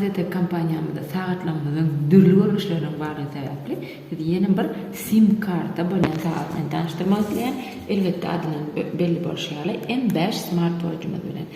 AZTEK kompaniýamyzda sagatlarymyzyň dürli görnüşleriniň bardygy sebäpli sizi ýene bir sim karta bolýan sagat bilen tanyşdyrmak isleýän. Elbetde adyndan belli bolşy ýaly M5 smartwatchymyz bilen.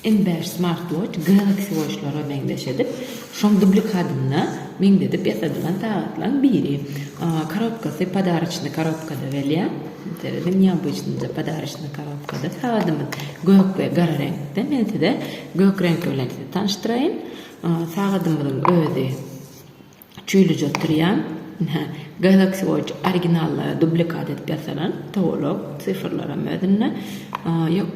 Iň bäş smartwatch Galaxy Watch-lara meňzeş edip, şoň dublikadyna meňzedip ýasadylan sagatlaň biri. Korobkasy podaroçnyý korobkada gelýär. Serediň, neobıçnyja podaroçnyý korobkada sagadymyz. Gök we gara reňkde. Men size gök reňki bilen sizi tanyşdyraýyn. Sagadymyzyň özi. Çüýlüje oturýan, ynha, Galaxy Watch originallary dublikat edip ýasalan, towalak, sifrlaram özünde, ýok,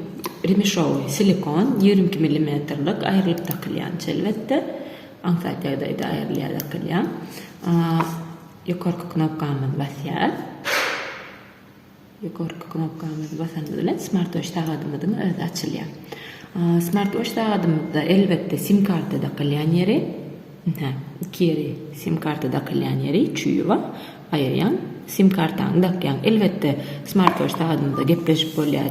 remişowy, silikon, ýigrimi iki millimetrlik, aýrylyp dakylýan çelbetde, aňsat ýagdaýda aýrylýar, dakylýar, ýokarky knopkamyzy basýarys. Ýokarky knopkamyzy basanymyz bilen smartwaç sagadymyzyň özi açylýar. Smartwaç sagadymyzda elbetde sim karta dakylýan ýeri, hä, iki ýeri sim karta dakylýan ýeri, çüýi bar, aýyrýaň, sim kartaňy dakýaň. Elbetde smartwaç sagadymyzda gepleşip bolýar.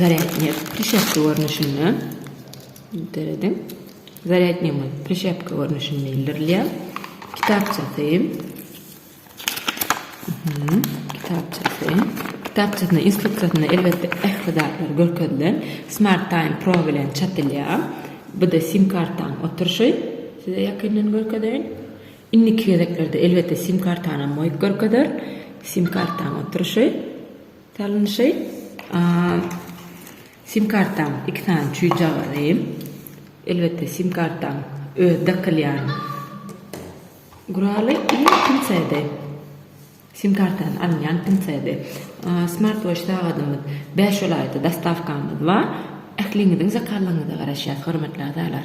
Zarýadnyýe prişepka görnüşinde dörediň. Zarýadnyýe prişepka görnüşinde ildirilýär. Kitapçasy. Kitapçasy. Kitapçasyna instruksiýasynda elbetde ähli zatlar görkezilen. Smart Time Pro bilen çatylýar. Bu-da sim kartaň oturşy. Size ýakyndan görkezeýin. Indiki gezeklerde elbetde sim kartanam goýup görkezer. Sim kartaň oturyşy, salnyşy. Sim kartaň iki sany çüýjagazy. Elbetde sim kartaň öz dakylýan guraly i pinsedi. Sim kartany alynýan pinsedi. Smart watch sagadymyz bäş welaýata dostawkamyz bar. Ähliňiziň zakalygyňyza garaşýas hormatly agzalar.